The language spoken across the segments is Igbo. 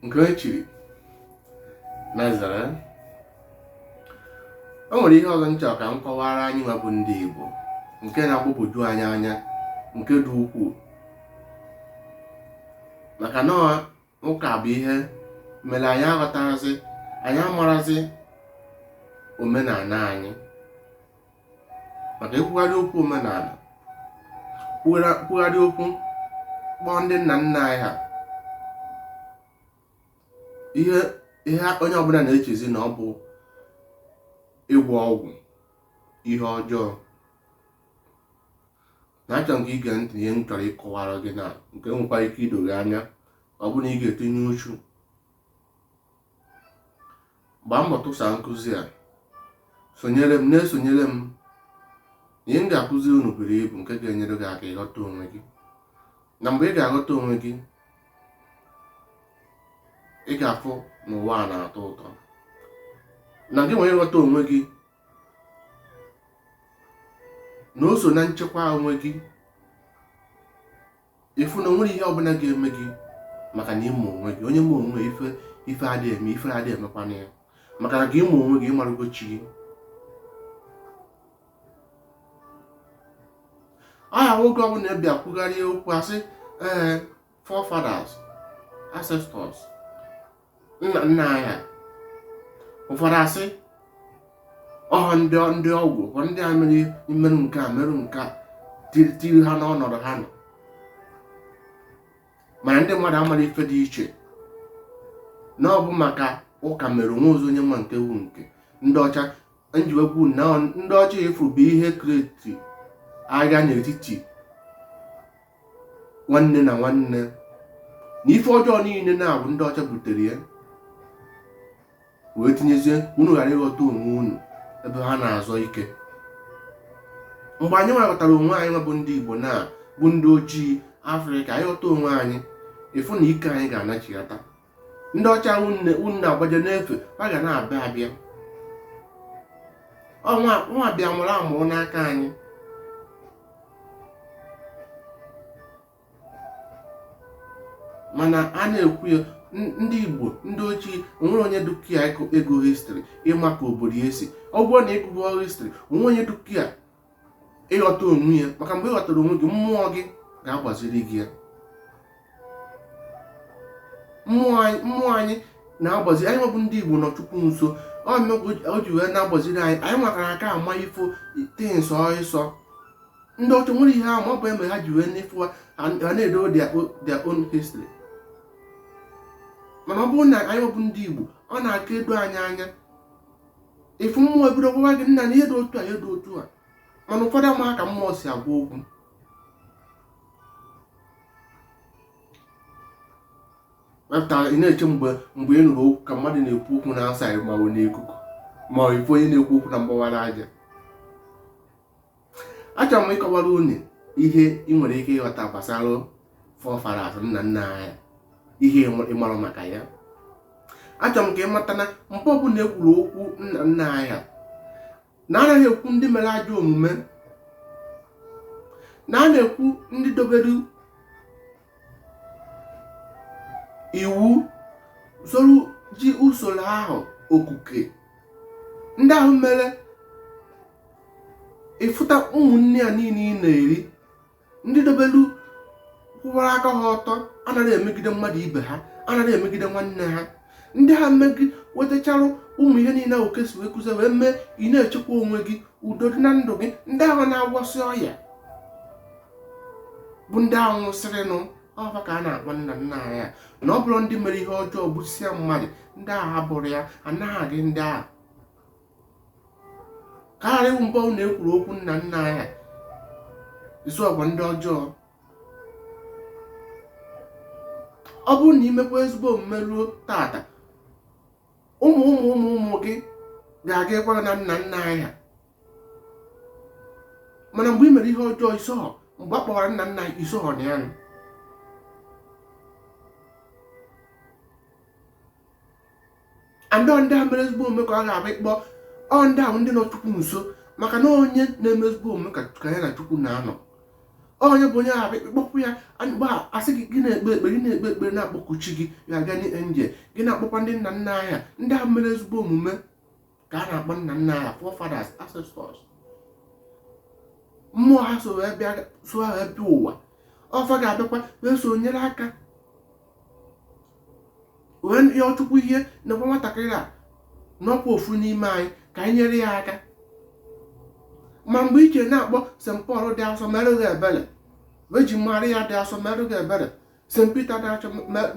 nke e chiri na zara o nwere ihe ọzọ m chọ ka m kọwara anyị nwa bụ ndị Igbo nke na-agbagwoju anyị anya nke dị ukwuu maka na ụka bụ ihe mere anyị aghọtarazị anyị amarazi omenala anyị maka i kwugharị okwu omenala kwugharị okwu kpọọ ndị nna nna anyị ha ihe ihe onye ọbụla na-echezi na ọ bụ ịgwọ ọgwụ ihe ọjọọ na achọ m ka i gee ntị ihe m chọrọ ịkọwara gị na nke nwekwara ike ido gị anya ọ bụ na ị ga-etinye uchu gbaa mbọ tụsa nkụzi a sonyere m na-esonyere m ihe m ga-akụzi unu buru ibu nke ga-enyere gị aka ịghọta onwe gị na mgbe ị ga-aghọta onwe gị ị ga-afụ na ụwa a na-atọ ụtọ na gị nwere ịghọta onwe gị na o so na nchekwa onwe gị ị fụ na o nwerọ ihe ọbụla ga-eme gị maka na ị ma onwe gị onye ma onwe ya ife ife adịghị eme ife adịghị emekwana ya maka na gị ịma onwe gị ị marụgo chi gị ahụ nwa oge ọbụla a bịa kwugharị okwu a sị ee forefathers ancestors nna nna anyị ụfọdụ a sị ọ ha ndị ndị ọgwụ ụfọdụ ndị a mere imerụ nke a merụ nke a tiri tiri ha n'ọnọdụ ha nọ mana ndị mmadụ amara ife dị iche na ọ bụ maka ụka mere onwe ozi onye nwa nke wu nke ndị ọcha m ji wee kwuo na ndị ọcha afụ bụ ihe create agha n'etiti nwanne na nwanne na ife ọjọọ niile na ọ bụ ndị ọcha butere ya wee tinyezie unu ghara ịghọta onwe unu ebe ha na-azọ ike mgbe anyị nwa ghọtara onwe anyị nwa bụ ndị Igbo na bụ ndị ojii Afrịka anyị ghọta onwe anyị ị fụ na ike anyị ga-anachighata ndị ọcha nwa unu na-agbaje n'ebe ha ga na-abịa abịa wa nwa bịa mụrụ amụrụ n'aka anyị mana a na-ekwu ya n- ndị igbo ndị ochie o nwerọ onye dị ka ya ị gụọ history ị ma ka obodo ya si ọ bụrụ na ị gụọ history o nwerọ onye dị ka ya ịghọta onwe ya maka mgbe ịghọtara onwe gị mmụọ gị ga-agbaziri gị ya mmụọ anyị na-agbazi anyị nwa bụ ndị Igbo nọ Chukwu nso o ji wee na-agbaziri anyị anyị nwa kara aka ama ịfụ things ọsọ ndị ọcha nwere ihe ahụ ma ọ bụ eme ha ji wee n'ifo ha na-edo their own history mana ọ bụrụ na anyị nwa bụ ndị Igbo ọ na-aka edo anyị anya ị fụ mmụọ ebido gwawa gị na na ihe dị otu a ihe dị otu a mana ụfọdụ amaghị ka mmụọ si agwa okwu ị na-eche mgbe mgbe ị nụrụ okwu ka mmadụ na-ekwu okwu na-asa ma ọ n'ikuku ma ị fụ onye na-ekwu okwu na mgbawara aja achọrọ m ịkọwara unu ihe ị nwere ike ịghọta gbasara forefathers nna nna anyị ihe ị marọ maka ya achọrọ m ka ị mata na mgbe ọbụla e kwuru okwu nna nna anyị na anaghị ekwu ndị mere ajọ omume na a na-ekwu ndị dobere iwu soro ji usoro ahụ okuke ndị ahụ mere ịfụta ụmụ nni a niile ị na-eri ndị dobelu kwụwara aka ha ọtọ anaghị emegide mmadụ ibe ha anaghị emegide nwanne ha ndị ha mme gị wetachara ụmụ ihe niile ahụ kesi wee kụzie wee mee ị na-echekwa onwe gị udo dị na ndụ gị ndị ahụ na-agwọsị ọya bụ ndị ahụ nwụsịrịnụ ọ fa ka a na-akpọ nna nna anyị na ọ bụrọ ndị mere ihe ọjọọ gbusịa mmadụ ndị ahụ abụrọ ya anaghị agụ ndị ahụ ka ị ma mgbe ọbụna e kwuru okwu nna nna anyị esohọkwa ndị ọjọọ ọ bụrụ na i mekwaa ezigbo omume ruo tata ụmụ ụmụ ụmụ ụmụ gị ga-aga ịkwara na nna nna ha mana mgbe ị mere ihe ọjọọ i sohọ mgbe a kpọwara nna nna anyị i sohọ na ya nọ and ndị a mere ezigbo omume ka ọ ga-abịa ịkpọ ọ ndị ahụ ndị nọ chukwu nso maka na onye na-eme ezigbo omume ka ya na chukwu na-anọ onye bụ onye ahụ abịa kpọkuo ya mgbe a sị gị gị na-ekpe ekpere na-akpọku chi gị guardian angel gị na-akpọkwa ndị nna nna anyị ndị ahụ mere ezigbo omume ka a na-akpọ nna nna anyị forefathers ancestors mmụọ ha so wee bịa ụwa ọ fa ga-abịakwa wee so nyere aka wee yọọ chukwu ya na nwatakịrị a na ọ kwa ofu n'ime anyị ka anyị nyere ya aka ma mgbe i je na-akpọ st paul dị asọ merụ gị ebere Virgin Maria dị asọ merụ gị ebere St. Peter dị asọ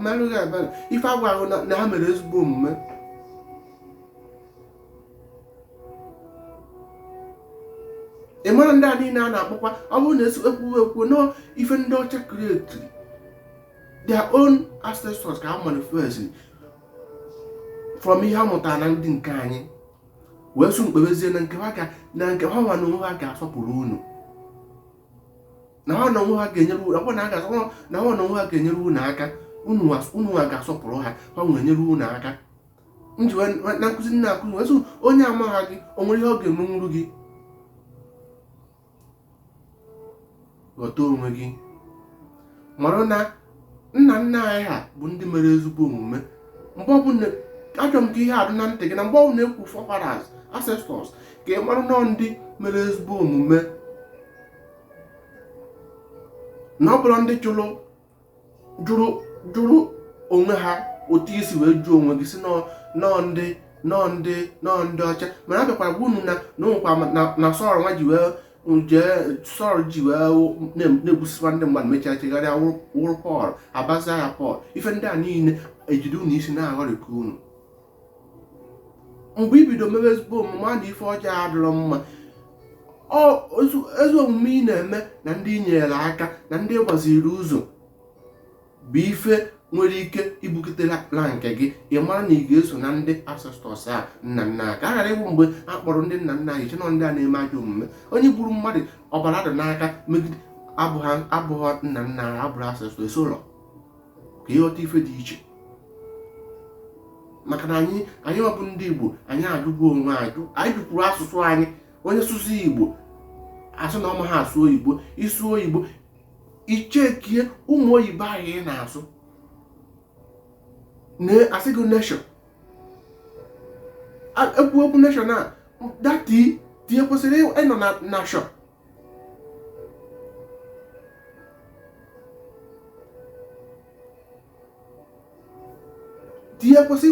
meere anyị ebere ife a gwa gị na ha mere ezigbo omume ị mara ndị a niile a na-akpọkwa ọ bụrụ na ekwuwe ekwu na ọ ife ndị ọcha create their own ancestors ka ha manifest from ihe ha mụtara na ndị nke anyị wee sị unu kpebezie na nke ha na nke ha nwa na onwe ha ga-asọpụrụ unu na ha na onwe ha ga-enyere unu ọbụna a ga-asọ na ha na onwe ha ga-enyere unu aka unu as- unu ha ga-asọpụrụ ha ha nwere nyere unu aka m ji na nkụzi m na-akụzi wee sị onye amaghị gị o nwere ihe ọ ga-emenwuru gị ghọta onwe gị mara na nna nna anyị ha bụ ndị mere ezigbo omume mgbe ọbụla achọrọ m ka ihe a dị na ntị gị na mgbe ọbụla ekwu forefathers ancestors ka ị mara na ọ ndị mere ezigbo omume na ọ bụrọ ndị jụrụ jụrụ jụrụ onwe ha otu i si wee jụọ onwe gị sị na ọ ndị na ọ ndị na ọ ndị ọcha mana a bịakwara gwa unu na na onwekwa na Sọl nwa ji wee jee Sọl ji wee na-egbusiwa ndị mmadụ mechaa chegharịa wụrụ Pọl a bazie ya Pọl ife ndị a niile ejide unu isi na-aghọrịka unu mgbe i bido mebe ezigbo omume a na ife ọjọọ adịrọ mma ezi omume ị na-eme na ndị i nyere aka na ndị ị gbaziri ụzọ bụ ife nwere ike ibukitela na nke gị ị mara na ị ga-eso na ndị ancestors a nna nna ka ọ ghara ịbụ mgbe a kpọrọ ndị nna nna anyị chee na ọ ndị a na-eme ajọ omume onye gburu mmadụ ọbara dị n'aka megide abụghị nna nna abụrọ ancestors ụlọ ka ị ghọta ife dị iche maka na anyị anyị nwa bụ ndị Igbo anyị ajụgo onwe anyị jụkwuru asụsụ anyị onye sụsụ Igbo a sị na ọ maha asụ oyibo ị sụ oyibo i checkie ụmụ oyibo anyị na-asụ a sị gị nation ekwu okwu nation a that T T ekwesịrọ ịnọ na nation T ekwesị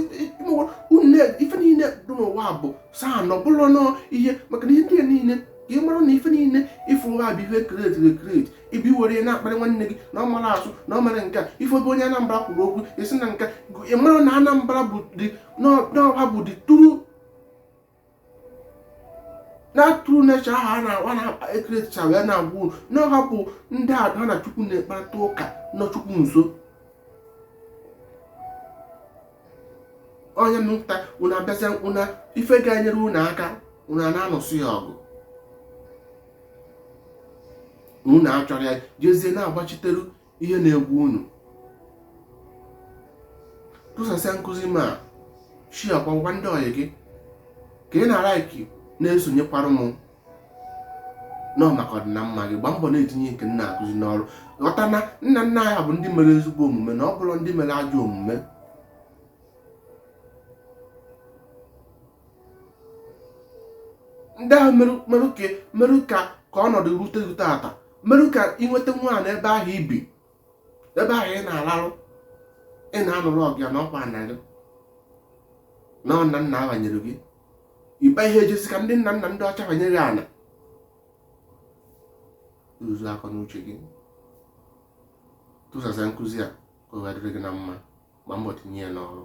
ife niile dị n'ụwa bụ saa na ọ bụrụ na ọ ihe maka na ihe ndị niile ka ị mara na ife niile ị fụ nwa bụ ihe e create create ị bịa were na-akparị nwanne gị na ọ mara asụ na ọ mara nke a ife ebe onye Anambra kwuru okwu a sị na nka ị mara na Anambra bụ the na ọ ha bụ the true na true nature ahụ a na-agwa na e createcha wee na-agwa unu na ọ ha bụ ndị ha na Chukwu na-ekparịta ụka nọ Chukwu nso onye nta unu abịazie unu ife ga-enyere unu aka unu ana-anụso ya ọgụ unu achọrọ ya jezie na-agbachitere ihe na-egbu unu tụsasịa nkụzi ma shiakwara ndị ọyị gị ka ị na-alaiki na-esonyekwara m nọ maka ọdịna mma gị gbaa mbọ na-etinye nke m na-akụzi n'ọrụ ghọta na nna nna anyị ha bụ ndị mere ezigbo omume na ọ bụrụ ndị mere ajọ omume ndị ahụ merụ ka ka ọnọdụ rute rute taa merụ ka ị nweta nwa ana ebe ahụ i bi ebe ahụ ị na-alarụ ị na-anụrụ ọgụ ya na ọkwa nna gị na nna nna wa nyere gị ị gaghị eje sị ka ndị nna nna ndị ọcha wa nye gị ana rụzu akọ n'uche gị tụsasịa nkụzi a ka ọ ga-adịrị gị na mma gbaa mbọ tinye ya n'ọrụ